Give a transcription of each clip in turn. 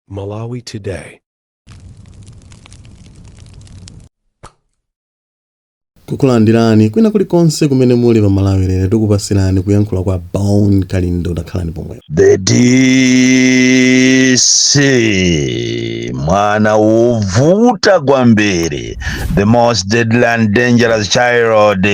Malawi Today. kukulandirani kwina kulikonse kumene muli pa malawi lero tikupatsirani kuyankhula kwa bon kalindo takhalani pomwepo The DC mwana wovuta kwambiri the most deadly and dangerous child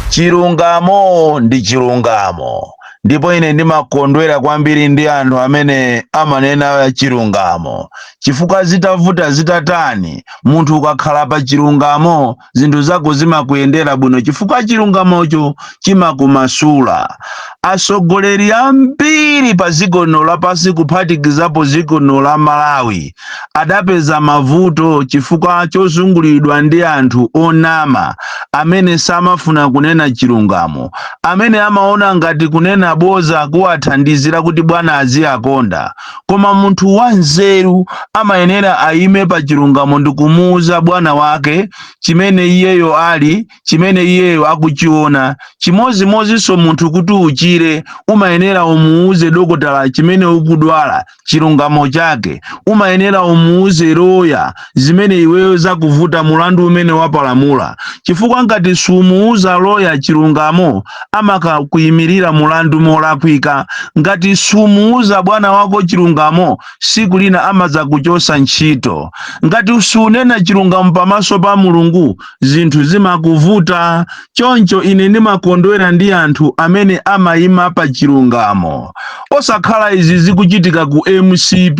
chilungamo ndi chilungamo ndipo ine ndimakondwera kwambiri ndi anthu amene amanena chilungamo chifukwa zitavuta zitatani munthu ukakhala pa chilungamo zinthu zako zimakuyendera bwino chifukwa chilungamocho chimakumasula atsogoleri ambiri pa dziko lino lapansi kuphatikizapo dziko lino la malawi adapeza mavuto chifukwa chozungulidwa ndi anthu onama amene samafuna kunena chilungamo, amene amaona ngati kunena boza kuwathandizira kuti bwana aziwakonda. Koma munthu wanzeru amayenera ayime pa chilungamo ndikumuuza bwana wake chimene iyeyo ali, chimene iyeyo akuchiona. Chimodzimodzinso munthu kuti uchire umayenera umuuze dokotala chimene ukudwala chilungamo chake umayenera umuuze loya zimene iweyo zakuvuta mulandu umene wapalamula chifukwa ngati sumuuza loya chilungamo amakakuyimirira mulandu molakwika ngati sumuuza bwana wako chilungamo siku lina amadzakuchosa ntchito ngati sunena chilungamo pamaso pa mulungu zinthu zimakuvuta. Choncho ine ndimakondwera ndi anthu amene amayima pa chilungamo. Osakhala izi zikuchitika ku mcp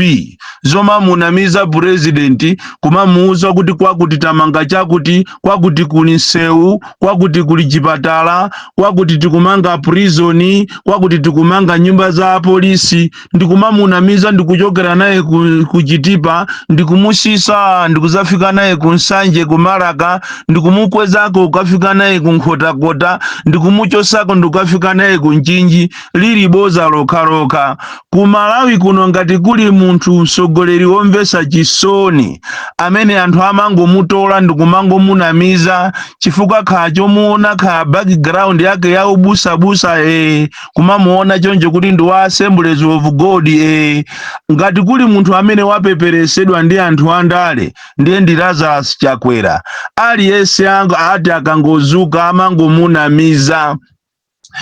zomamunamiza purezidenti kumamuwuza kuti kwakuti tamanga chakuti, kwakuti kuli nsewu, kwakuti kuli chipatala, kwakuti tikumanga prizoni, kwakuti tikumanga nyumba za polisi. ndikumamunamiza ndikuchokera naye ku chitipa ndikumusisa ndikuzafika naye ku nsanje ku marka ndikumukwezako ukafika naye ku nkhotakota ndikumuchosako ndikukafika naye ku nchinji lili boza lokhalokha ku malawi kuno ngati kuli munthu mtsogoleri womvesa chisoni amene anthu amangomutola ndikumangomunamiza chifukwa kha chomuona kha background yake ya ubusabusa eh, kumamuona choncho kuti ndi wa assemblies of god eh. ngati kuli munthu amene wapeperesedwa ndi anthu andale ndiye ndi lazarus chakwera aliyense ati akangozuka amangomunamiza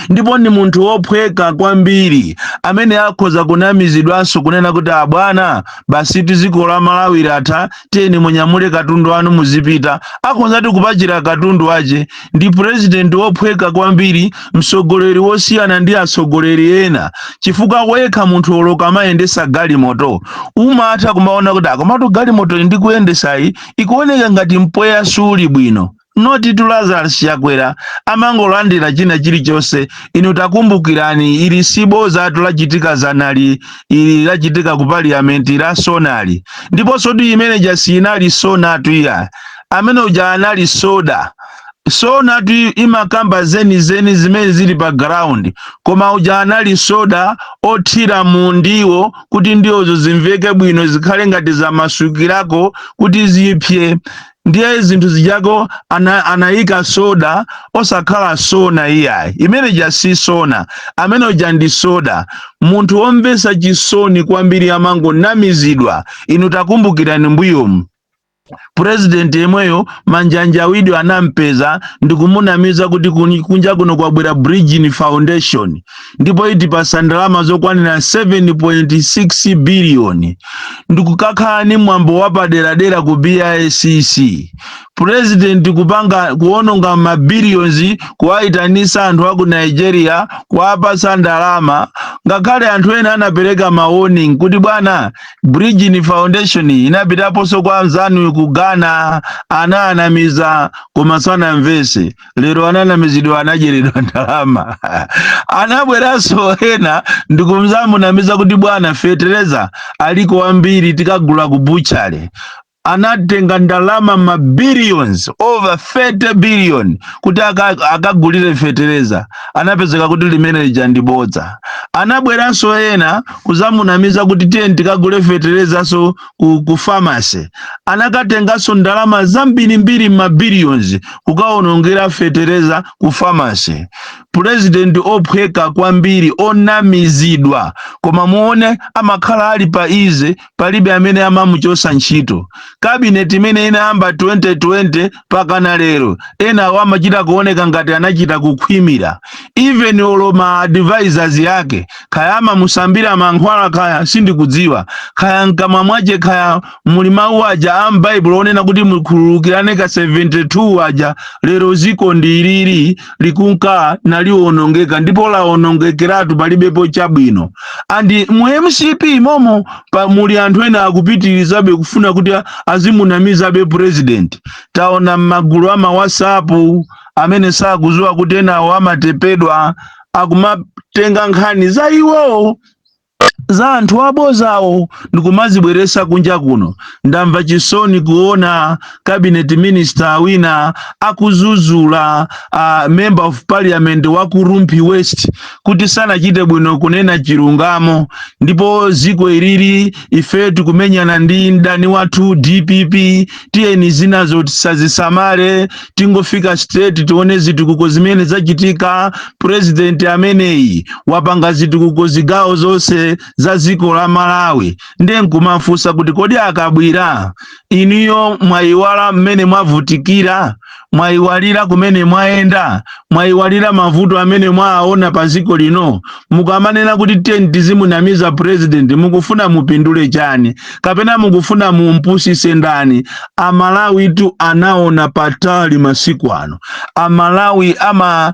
ndipo ndi munthu wophweka kwambiri amene akhoza kunamizidwanso kunena kuti abwana basi ziko la malawi latha tiyeni munyamule katundu wanu muzipita akhozati kupachira katundu wache ndi purezidenti wophweka kwambiri mtsogoleri wosiyana ndi atsogoleri ena chifukwa wekha munthu olo ukamayendesa galimoto umatha kumaona kuti a komatu galimoto iyi ndikuyendesayi ikuoneka ngati mpweya suli bwino notitu lazarus chakwera amangolandira china chilichonse inu takumbukirani ili sibozatu lachitika zanali ili lachitika ku parliament la sonali ndiponsotu imene ija siinali sonatu iya amene uja anali soda sonatu imakamba zenizeni zimene zili pa ground koma uja anali soda othira mu ndiwo kuti ndiwozo zimveke bwino zikhale ngati zamasukirako kuti zipse ndiye zinthu zijako ana, anayika soda osakhala sona iyayi imene ija si sona amene uja ndi soda munthu womvetsa chisoni kwambiri amangonamizidwa inu takumbukirani mbuyomu purezidenti yemweyo manjanjawidwe anampeza ndikumunamiza kuti kuni- kunja kuno kwabwera bridgin foundation ndipo itipasa ndalama zokwanira 7.6 biliyoni ndikukakhala ni mwambo wapaderadera ku bicc purezidenti kupanga kuononga mabiliyonzi kuwayitanisa anthu aku nigeria kuwapasa ndalama ngakhale anthu ena anapereka ma warning kuti bwana Bridgin Foundation inapitaponso kwa anzanu ku Ghana ananamiza koma sanamvese lero ananamizidwa anadyeredwa ndalama anabweranso ena ndikuzamunamiza kuti bwana fetereza aliko wambiri tikagula ku buchale anatenga ndalama ma billions over 30 billion kuti aka- akagulire fetereza anapezeka kuti limene lija ndi bodza anabweranso ena kuzamunamiza kuti tiye tikagule feterezanso ku, ku famasi anakatenganso ndalama zambirimbiri ma billions kukaonongera fetereza ku famasi purezidenti ophweka kwambiri onamizidwa koma muone amakhala ali pa easy palibe amene amamuchosa ntchito kabineti imene inayamba 2020 pakana lero enawo amachita kuoneka ngati anachita kukhwimira even olo ma advisors yake khaya amamusambira mankhwala khaya sindikudziwa khaya mkamwa mwache khaya muli mawu aja a m'baibulo onena kuti mukhululukirane ka 72 aja lero ziko ndi ili likunka naliwonongeka ndipo lawonongekeratu palibepo chabwino and mu mcp momo pa muli anthu ena akupitirizabe kufuna kuti a- azimunamizabe president taona m'magulu ama whatsapp amene sakuziwa kuti enawo amatepedwa akumatenga nkhani za iwowo za anthu abozawo ndikumazibweresa kunja kuno ndamva chisoni kuona cabinet minister wina akuzuzula uh, member of parliament wa ku Rumphi west kuti sanachite bwino kunena chilungamo ndipo ziko ilili ife tikumenyana ndi mdani wathu dpp tiyeni zinazo tisazisamale tingofika state tione zitukuko zimene zachitika purezidenti ameneyi wapanga zitukuko zigawo zonse za dziko la malawi ndiye nkumafunsa kuti kodi akabwira inuyo mwayiwala mmene mwavutikira mwayiwalira kumene mwayenda mwayiwalira mavuto amene mwaona pa dziko lino mukamanena kuti tiyeni tizimunamiza purezidenti mukufuna mupindule chani kapena mukufuna mumpusise ndani amalawitu anaona patali masiku ano amalawi ama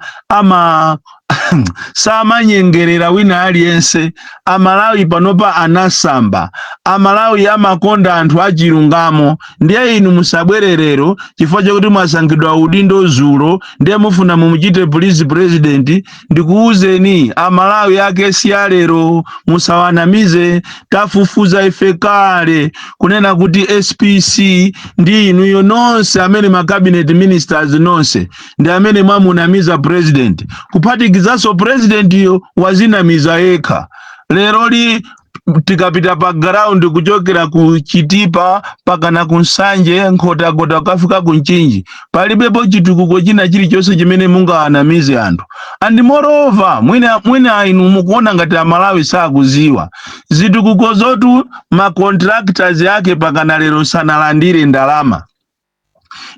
samanyengerera wina aliyense amalawi panopa anasamba amalawi amakonda anthu achilungamo ndiye inu musabwererero chifukwa chakuti mwasankhidwa udindo zulo ndiye mufuna mumuchite police president ndikuwuzeni amalawi ake si alero musawanamize tafufuza ife kale kunena kuti spc ndi inuyo nonse amene ma cabinet ministers nonse ndi amene mwamunamiza president kuphatikizanso presidentyo wazinamiza yekha lero li tikapita pa ground kuchokera ku chitipa pakana ku nsanje nkhotakota kukafika ku mchinji palibepo chitukuko china chilichonse chimene mungawanamize anthu and moreover mwina inu mukuona ngati amalawi sakuziwa zitukuko zotu ma contractors ake pakana lero sanalandire ndalama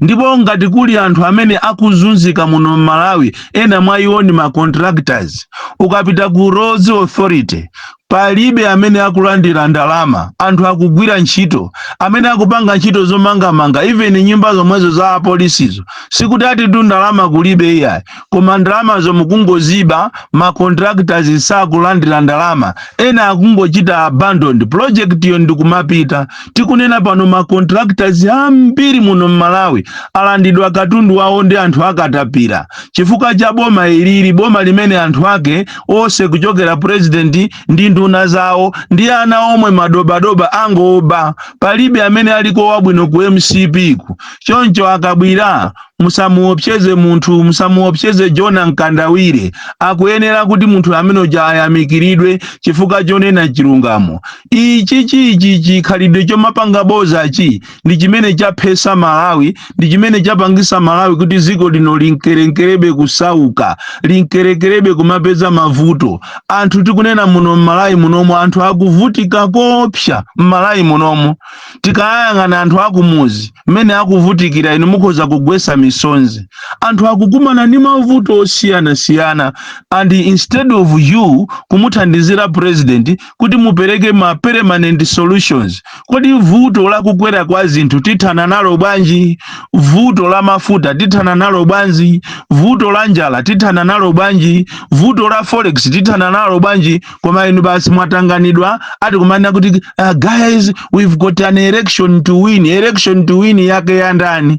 ndipo ngati kuli anthu amene akuzunzika muno m'malawi ena mwa iwo ndi ma contractors ukapita ku roads authority palibe amene akulandira ndalama anthu akugwira ntchito amene akupanga ntchito zomangamanga even nyumba zomwezo za apolisizo sikuti atitu ndalama kulibe iyayi koma ndalamazo mukungoziba ma contractors sakulandira ndalama ena akungochita abandon project yo ndikumapita tikunena pano ma contractors ambiri muno mmalawi alandidwa katundu wawo ndi anthu akatapira chifukwa cha boma ilili boma limene anthu ake onse kuchokera president ndi nduna zawo ndi ana omwe madobadoba angoba palibe amene aliko wabwino ku mcp ku choncho akabwira Musamuopseze munthu, musamuopseze Jona Mkandawire. Akuyenera kuti munthu amene uja ayamikiridwe chifukwa chonena chilungamo. Ichichi ichi chikhalidwe chomapanga boza chi ndi chimene chaphesa Malawi, ndi chimene chapangisa Malawi kuti dziko lino linkerenkerebe kusauka, linkerenkerebe kumapeza mavuto. Anthu tikunena muno m'Malawi munomo anthu akuvutika koopsa m'Malawi munomo. Tikayang'ana anthu akumuzi mmene akuvutikira inu mukhoza kugwesa misonzi. Anthu akukumana ni mavuto osiyanasiyana and instead of you kumuthandizira president kuti mupereke ma permanent solutions. Kodi vuto la kukwera kwa zinthu tithana nalo bwanji? Vuto la mafuta tithana nalo bwanji? Vuto la njala tithana nalo bwanji? Vuto la forex tithana nalo bwanji? koma inu basi mwatanganidwa ati kumanena kuti uh, guys we've got an election to win election to win yake ya ndani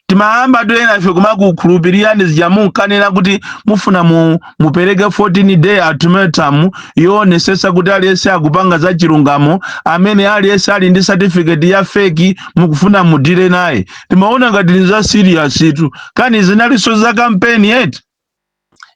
timayamba ena ife kumakukhulupirirani zija munkanena kuti mufuna mu, mupereke 14 day ultimatum yoonetsetsa kuti aliyense akupanga za chilungamo amene aliyense ali ndi certificate ya feki mukufuna mudile naye timaona ngati ni za serious tu kani zinalinso za kampeni eti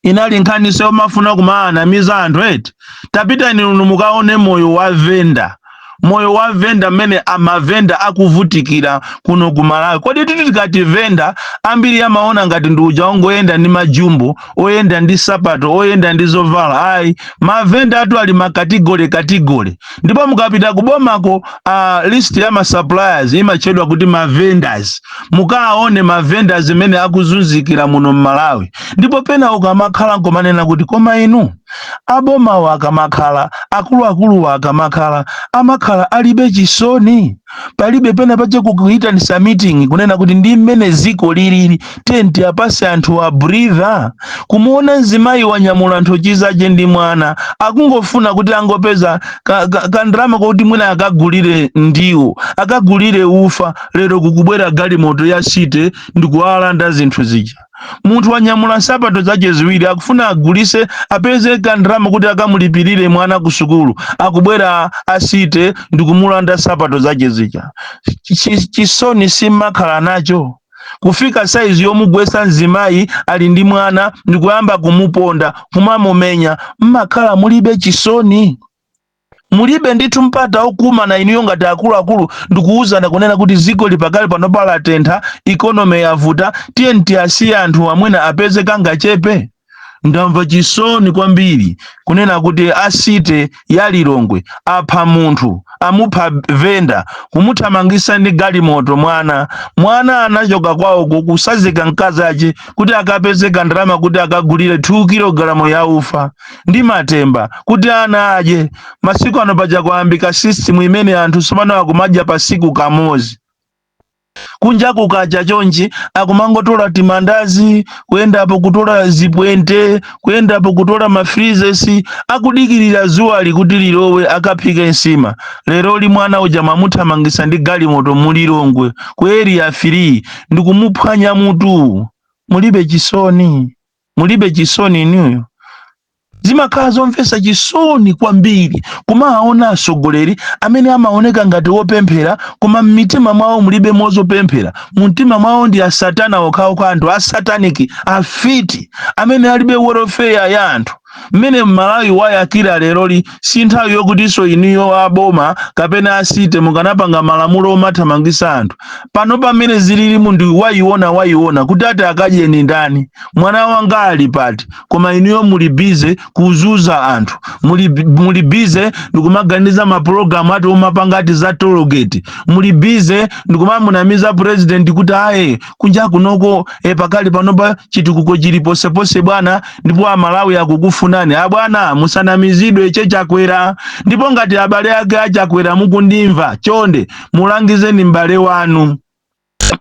inali nkhaniso yomafuna kumaanamiza anthu eti tapitani inu mukaone moyo wa venda moyo wa venda mmene amavenda akuvutikira kuno ku malawi kodi titi tikati venda ambiri amaona ngati ndi uja ongoyenda ndi majumbo oyenda ndi sapato oyenda ndi zovala ayi mavenda atu ali m'makategole kategole ndipo mukapita kubomako a list ya ma suppliers imatchedwa kuti ma vendors mukaone ma vendors mmene akuzunzikira muno m'malawi ndipo pena ukamakhala nkomanena kuti koma inu abomawo akamakhala akuluakuluwo akamakhala amakhala alibe chisoni palibe pena pache kukuitanisa meeting kunena kuti ndi mmene ziko lilili tiyeni tiapase anthu a breather kumuona mzimayi wanyamula nthochi zace ndi mwana akungofuna kuti angopeza ka, ka, ka ndalama koti mwina akagulire ndiwo akagulire ufa lero kukubwera galimoto ya city ndikuwalanda zinthu zija munthu wanyamula nsapato zache ziwiri akufuna agulise apeze kandalama kuti akamulipirire mwana ku sukulu akubwera a city ndikumulanda nsapato zache zija Chi- chisoni simmakhala nacho kufika saizi yomugwesa mzimayi ali ndi mwana ndikuyamba kumuponda kumamumenya mmakhala mulibe chisoni mulibe ndithu mpata okumana inuyo ngati akuluakulu ndikuwuzana kunena kuti ziko li pakali panopa latentha economy yavuta tiyeni tiasiye anthu amenewa apeze kangachepe ndamva chisoni kwambiri kunena kuti a city ya lilongwe apha munthu amupha vendor kumuthamangisa ndi galimoto mwana mwana anachoka kwawoko kusazika mkazi ache kuti akapeze kandalama kuti akagulire 2 kilogalamu ya ufa ndi matemba kuti ana adye masiku ano paja kwayambika system imene anthu tsopano akumadya pasiku kamodzi kunja kukacha chonchi akumangotola timandazi kuyendapo kutola zipwente kuyendapo kutola mafrizesi akudikirira zuwali kuti lilowe akaphike nsima leroli mwana uja mwamuthamangisa ndi galimoto mu lilongwe ku area 3 ndikumuphwanya mutu mulibe chisoni mulibe chisoni inuyo zimakhala zomvetsa chisoni kwambiri kumawaona atsogoleri amene amaoneka ngati wopemphera koma m'mitima mwawo mulibe mwa zopemphera mumtima mwawo ndi asatana okhaokha anthu asataniki afiti amene alibe welfare ya anthu mmene mmalawi wayakira leroli si nthawi yokutinso inuyo a boma kapena a city mukanapanga malamulo omathamangisa anthu pano pamene zilili munthu wayiona wayiona kuti ati akadyenji ndani mwana wanga ali pati koma inuyo muli bize kuzuza anthu muli bize ndikumaganiza mapulogalamu ati omapanga ati za tologeti muli bize ndikumamunamiza president kuti aye kunja kunoko pakali panopa chitukuko chili ponseponse bwana, ndipo amalawi akukufunani abwana, musanamizidwe che Chakwera. Ndipo ngati abale ake a Chakwera mukundimva, chonde mulangizeni m'bale wanu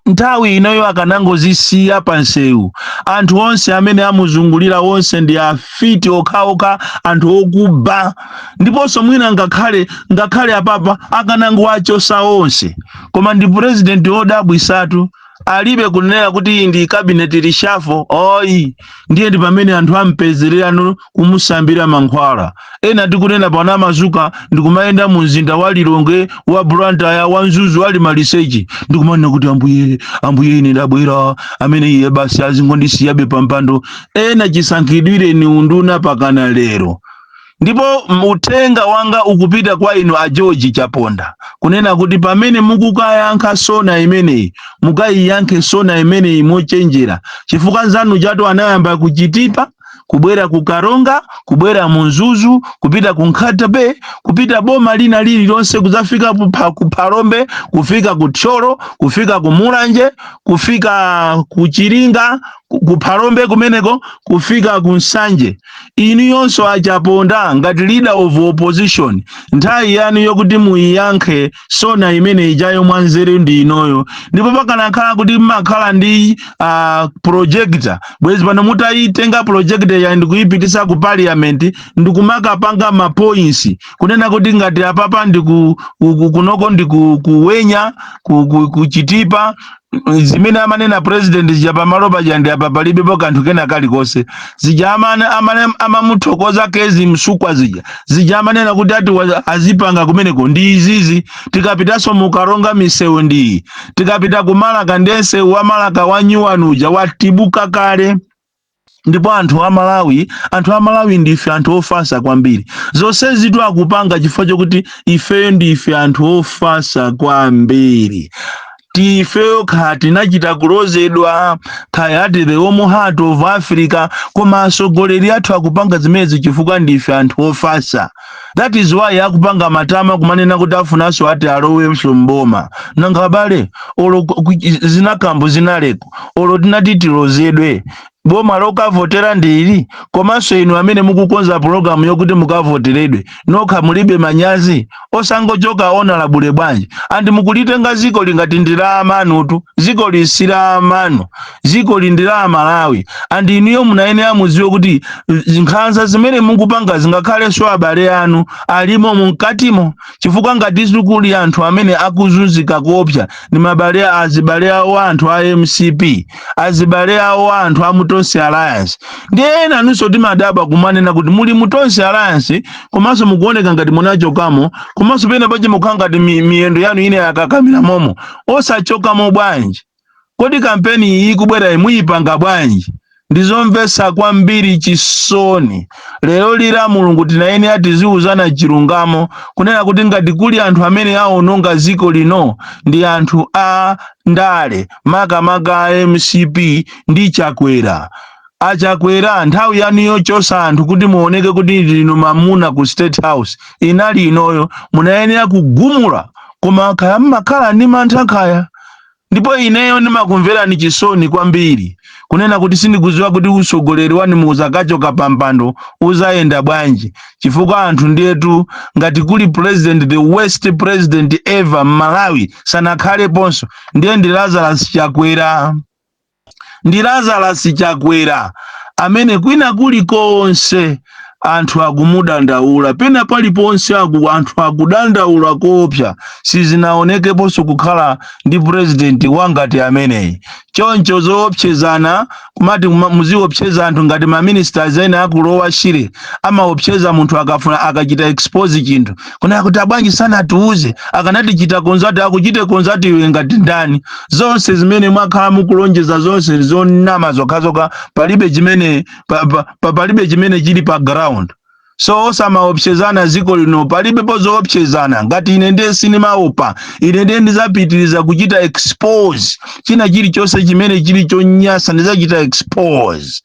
nthawi inoyo akanangozisiya panseu anthu onse amene amuzungulira onse ndi afiti okhaokha anthu okuba ndiponso mwina ngakhale ngakhale apapa akanangowachosa onse koma ndi purezidenti wodabwisatu alibe kunena kuti iyi ndi cabinet reshuffle ayi ndiye ndi pamene anthu ampezererapo kumusambira mankhwala ena tikunena pano amazuka ndikumayenda mu mzinda wa lilongwe wa blantyre wa mzuzu ali maliseche ndikumanena kuti ambuye ambuye ine ndabwera amene iye basi azingondisiyabe pampando ena chisankhidwireni unduna pakana lero ndipo uthenga wanga ukupita kwa inu a George Chaponda kunena kuti pamene mukukayankha sona imeneyi mukayiyankhe sona imeneyi mochenjera chifukwa nzanu chato anayamba kuchitipa kubwera ku Karonga kubwera mu Mzuzu kupita ku Nkhata Bay kupita boma lina lililonse kudzafika kupha- ku Phalombe kufika ku Thyolo kufika ku Mulanje kufika ku Chiringa ku ku Phalombe kumeneko kufika ku Nsanje inuyonso a Chaponda ngati leader of opposition nthawi yanu yokuti muyiyankhe sona imene ijayo mwanzeru ndi inoyo ndipo pakanakhala kuti mmakhala ndi uh, projector bwezi pano mutayitenga projector ija ndikuyipitisa ku parliament ndikumakapanga ma points kunena kuti ngati apapa ndiku ku- ku- kunoko ndikuwenya kuchitipa zimene amanena president zija pamalo paja ndi apa palibepo kanthu kena kalikonse zija amane- amane- amamuthokoza Kezzie Msukwa zija amanena kuti ati wa- azipanga kumeneko ndi izizi tikapitanso mu Karonga misewu ndi iyi tikapita ku Marka ndi msewu wa Marka wa nyuwani uja watibuka kale ndipo anthu a Malawi anthu a Malawi ndife anthu ofasa kwambiri zonsezi tu akupanga chifukwa chokuti ifeyo ndife anthu ofasa kwambiri ndifeyo kaya tinachita kulozedwa kaya ati the warm heart of africa koma atsogoleri athu akupanga zimenezi chifukwa ndife anthu ofasa that is why akupanga matama kumanena kuti afunanso ati alowenso mboma nanga abale olo ku- ku- zinakambo zinaleko olo tinati tilozedwe boma lokavotera ndi ili komanso inu amene mukukonza pulogalamu yokuti mukavoteredwe nokha mulibe manyazi osangochoka honorable bwanji and mukulitenga zikoli ngati ndi la amanutu zikoli si la amanu zikoli ndi la amalawi and inuyo munayenera mudziwe kuti z- nkhanza zimene mukupanga zingakhalenso abale anu alimo mumkatimo chifukwa ngati si kuli anthu amene akuzunzika kuopsa ndi abale a- azibale awo a anthu a mcp azibale awo a anthu a mu Tonse Alliance ndiye enanunso timadabwa kumanena kuti muli mu Tonse alliance komanso mukuoneka ngati munachokamo komanso pena pache mukhala ngati mi- miyendo yanu ina yakakamira momo osachokamo bwanji Kodi kampeni iyi ikubwerayi muyipanga bwanji? Ndizomvetsa kwambiri chisoni. Lero li la Mulungu tinayenera tiziuzana chilungamo kunena kuti ngati kuli anthu amene awononga dziko lino ndi anthu a ndale makamaka a mcp ndi Chakwera. A Chakwera nthawi yanu yochosa anthu kuti muoneke kuti ndinu mamuna ku state house inali inoyo munayenera kugumula koma kaya mmakhala ndi mantha kaya. ndipo ineyo ndimakumverani chisoni kwambiri kunena kuti sindikudziwa kuti utsogoleri wanu muzakachoka pampando uzayenda bwanji chifukwa anthu ndiyetu ngati kuli president the worst president ever mmalawi sanakhaleponso ndiye ndi lazarus chakwera ndi Lazarus Chakwera amene kwina kulikonse anthu akumudandaula pena paliponse anthu akudandaula koopsa sizinaonekeponso kukhala ndi president wa ngati ameneyi choncho zoopsezana kumati muziopseza anthu ngati maministers ena akulowa shire amaopseza munthu akafuna akachita expose chinthu kunena kuti abwanji sanatiuze akanatichita konzati akuchite konzati iwe ngati ndani zonse zimene mwakhala mukulonjeza zonse zonama zokhazokha palibe chimene palibe chimene chili pa ground so osamaopsezana ziko lino palibepo zoopsezana ngati ine ndiye sinimaopa ine ndiye ndizapitiriza kuchita expose china chilichonse chimene chili chonyasa ndizachita expose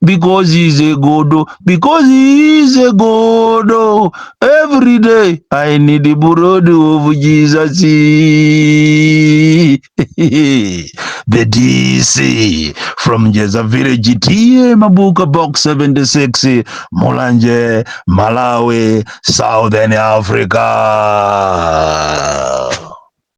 because he's a godo because he is a godo every day i need the blood of jesus the dc from jeza village ta mabuka box 76 mulanje malawi southern africa